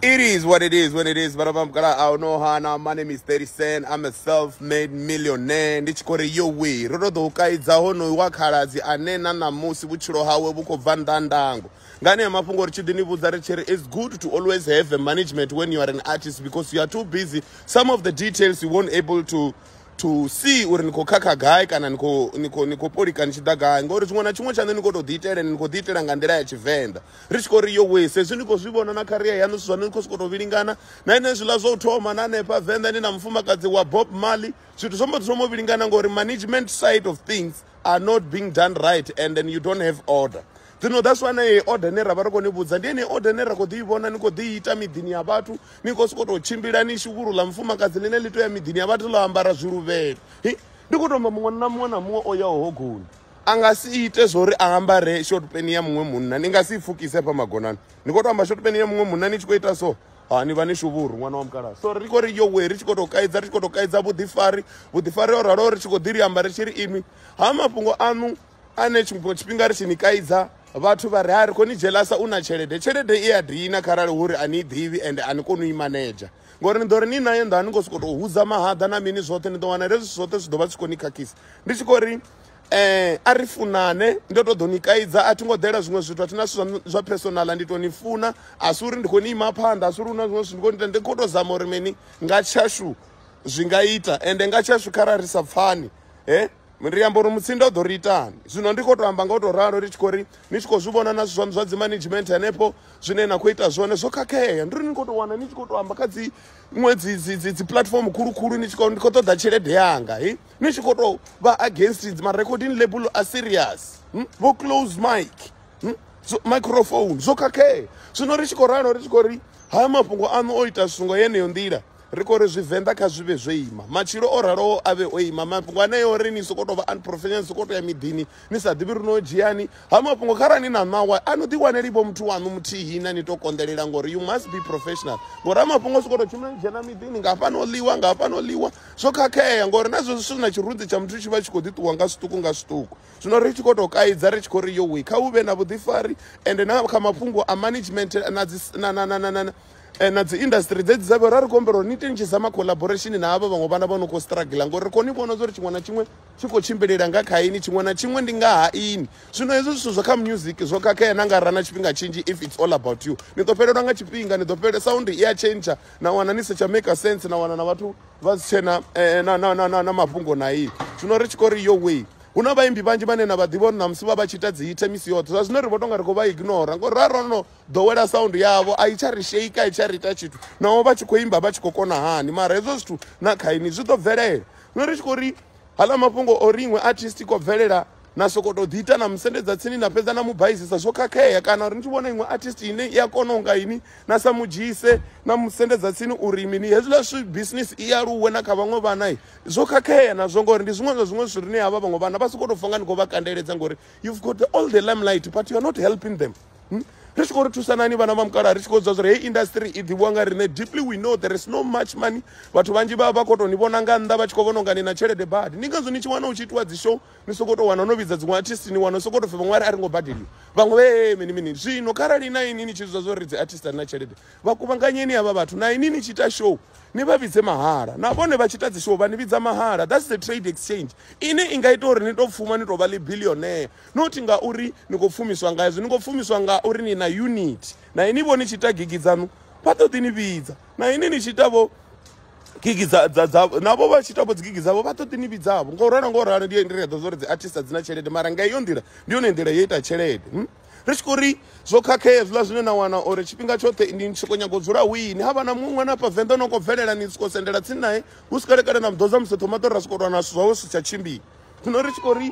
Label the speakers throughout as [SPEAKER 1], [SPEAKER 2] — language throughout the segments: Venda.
[SPEAKER 1] It is what it is when it is. Vana vamugala I know hana. My name is 30 Cent. I'm a self-made millionaire. Ndi tshi khou ri yo we. Ro to ḓo u kaidza honoyu wa khaladzi ane na ṋamusi vhutshilo hawe vhu khou bva nnḓa ndango. Nga ane mafhungo ri tshi ḓi ni vhudza ri tshi ri it's good to always have a management when you are an artist because you are too busy. Some of the details you won't able to to see uri ni khou khakha gai kana ni khou ni khou ni khou polika ni tshi ḓa gai ngori tshiṅwe na tshiṅwe tshaṋe ni khou tou ḓiitela ni khou ḓiitela nga nḓila ya Tshivenḓa. ri tshi khou ri yo wee sezwi ni khou zwi vhona na kharia yaṋu zwithu zwaṋu ni khou sokou tou vhilingana na ine zwiḽa zwa u thoma na hanefha venḓa ni na mufumakadzi wa bob mali zwithu zwo mbo ḓi thoma u vhilingana ngori management side of things are not being done right and then you don't have order zwino that's why na ye order ne ra vha ri khou ni vhudza ndi ene order ne ra khou ḓi i vhona ni khou ḓi ita miḓini ya vhathu ni khou sokou tou tshimbila ni shuvhulu ḽa mufumakadzi ḽine ḽi tou ya miḓini ya vhathu ḽo ambara zwiluvhelo ndi khou tomba muṅwe na muṅwe na muṅwe o yaho hogoni a nga si ite zwori a ambare short pen ya muṅwe munna ni nga si pfukise hafha magonani ni khou to amba short pen ya muṅwe munna ni tshi khou ita so ha ni vha ni shuvhuru ṅwana wa mukalaha so ri khou ri yo we ri tshi khou tou kaidza ri tshi khou tou kaidza vhuḓifari vhuḓifari o raloho ri tshi khou ḓi ri amba ri tshi ri inwi ha mafhungo aṋu ane tshiṅwe tshifhinga ri tshi ni kaidza vhathu vha ri ha ri khou ni dzhelasa u na tshelede tshelede i a dina kharali hu ri a ni i ḓivhi ende a ni koni u i manedzha ngori ni ḓo ri ni nayo nḓa a ni khou sokou tou hudza mahaḓa na mini zwoṱhe ni ḓo wana hezwi zwoṱhe zwi ḓo vha zwi khou ni khakhisa ndi tshi khou ri um a ri funane ndo to ḓo ni kaidza a thi ngo ḓela zwiṅwe zwithu a thina zwithu zwa personala ndi to ni funa a si uri ndi khou ni ima phanḓa a si uri hu na zwiṅwe zwithu ndi khou ni ita ndi khou to zama uri mini nga tshashu zwi nga ita ende nga tshashu khara ri sa pfani he ri amba uri mutsinda u ḓo ri itani zwino ndi khou to amba nga u to ralo ri tshi khou ri ni tshi khou zwi vhona na zwithu zwaṋu zwa dzi management hanefho zwine na khou ita zwone zwo khakhea ndi uri ni khou to wana ni tshi khou to amba kha dzi ṅwe dzi dzi dzi dzi platform khulukhulu ni tshi khou ndi khou ṱoḓa tshelede yanga he ni tshi khou tou vha against dzi ma-recording label a serious hmm? vho close mic hmm? so, microphone zwo khakhea zwino ri tshi khou ralo ri tshi khou ri haya mafhungo aṋu o ita zwithu ngo yeneyo nḓila ri khou ri zwivenḓa kha zwi vhe zwo ima matshilo o raloho a vhe o ima mafhungo aneyo ri ni sokou tou vha unprofessional sokou tou ya miḓini ni sa ḓivhi ri no dzhiani ha mafhungo kharali ni na ṋawa a no ḓiwaneli vho muthu waṋu muthihi na ni tou konḓelela ngori you must be professional ngori ha mafhungo sokou tou tshumela dzhena miḓini nga hafhano ḽiwa nga hafhano ḽiwa zwo khakhea ngori na zwo zwithu na tshirunzi tsha muthu tshi vha tshi khou ḓi ṱuwa nga zwiṱuku nga zwiṱuku zwino ri tshi khou tou kaidza ri tshi khou ri yowe kha hu vhe na vhuḓifari ende na kha mafhungo a management na dzi na na na na na eh, na dzi industry dzedzi dza vhera ri khou humbela uri ni teni tshi zama collaboration na havha vhaṅwe vhana vha no khou struggle ngori ri khou ni vhona uri tshiṅwe na tshiṅwe tshi khou tshimbilela nga kha ini tshiṅwe na tshiṅwe ndi nga ha ini zwino hezwi zwithu zwa kha music zwo khakhea na nga ra na tshifhinga tshinzhi if it's all about you ni ḓo fhelelwa nga tshifhinga ni ḓo fhelelwa sound i a tshentsha na wana ni si tsha maker sense na wana na vhathu vha si tshena eh, na, na, na, na, na mafhungo na iyi zwino ri tshi khou ri yo way hu na vhaimbi vhanzhi vhane na vha ḓivha uri ṋamusi vha vha tshi ita dzi hite misi yoṱhe zwa zwino ri vho tonga ri khou vha ignora ngori ra ro no ḓowela sound yavho a i tsha ri sheika a i tsha ri ita tshithu naho vha tshi khou imba vha tshi khou kona hani mara hezwo zwithu na khaini zwi ḓo bvelela zwino ri tshi khou ri hala mafhungo o ri iṅwe artist i khou bvelela na soko to ḓi ita na musendedza tsini na fhedza na mu baisisa zwo khakhea kana uri ni tshi vhona iṅwe artist ine i a kona unga ini na sa mu dzhise na musendedza tsini uri mini hezwiḽa zwi business i aluwe na kha vhaṅwe vhana zwo khakhea nazwo ngori ndi zwiṅwe zwa zwiṅwe zwithu rine havha vhaṅwe vhana vha soko to pfha nga ni khou vha kandeledza ngori you've got the, all the limelight but you are not helping them hmm? ri tshi khou ri thusanani vhana vha mukala ri tshi khou dza zwa uri hei industry i ḓivhiwa nga riṋe deeply we know there is no much money vhathu vhanzhi vha vha khou tou ni vhona nga nnḓa vha tshi khou vhona unga ni na tshelede badi ndi ngazwo ni tshi wana u tshi itiwa dzi show ni sokou tou wana no vhidza dziṅwe artist ni wana sokou tou pfhi vhaṅwe a ri ngo badeliwa vhaṅwe vhe mini mini zwino kharali na ini ni tshi zwa zwo ri dzi artist na tshelede vha kuvhanganyeni havha vhathu na ini ni tshi ita show ni vha vhidze mahala na vhone vha tshi ita dzi show vha ni vhidza mahala that's the trade exchange ine i nga ita uri ni tou pfuma ni tou vha ḽi billionaire not ngauri ni khou pfumiswa nga hezwo ni khou pfumiswa nga uri ni na unit na ini vho ni tshi ita gigi dzaṋu vha ṱoḓi ni vhidza na ini ni tshi ita vho gigi dza dza dza navho vha tshi tavho dzigigi dzavho vha ṱoḓi ni vhidzavho ngo ralo ngo ralo ndi ndi ri ḓo zwo ri dzi artist dzi na tshelede mara nga iyo nḓila ndi yone nḓila yo ita tshelede hmm? ri tshi khou ri zwo khakhea zwiḽa zwine na wana uri tshifhinga tshoṱhe ni tshi khou nyaga u dzula wini ha vha na muṅwe na hafha venḓa no khou bvelela ni sokou sendela tsini nae hu si kalekale na muḓodza musi thoma ḓo ra sokou lwana zwithu zwawe zwi si tsha tshimbila zwino ri tshi khou ri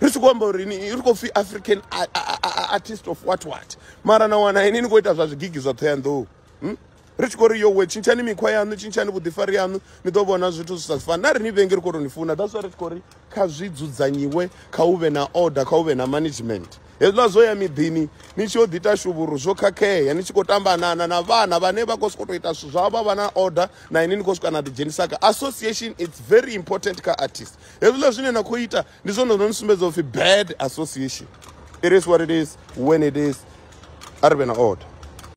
[SPEAKER 1] ri tshi khou amba uri ni ri khou pfhi african artist of what what mara na wana ini ni khou ita zwa zwigigi zwa thohoyanḓou hmm? ri tshi khou ri yowe tshintshani mikhwa yaṋu tshintshani vhuḓifari yaṋu ni ḓo vhona zwithu zwi sa si fani na ri ni vhengi ri khou tou ni funa that's why ri tshi khou ri kha zwi dzudzanyiwe kha u vhe na order kha u vhe na management hezwiḽa zwo ya miḓini ni tshi yo ḓi ita shuvhuru zwo khakhea ni tshi khou tambanana na vhana vhane vha khou sokou tou ita zwithu zwavho vha vha na order na ini ni khou swika na ḓidzhenisa kha association its very important kha artist hezwiḽa zwine na khou ita ndi zwone zwo ni sumbedza upfhi bad association it is what it is when it is a ri vhe na order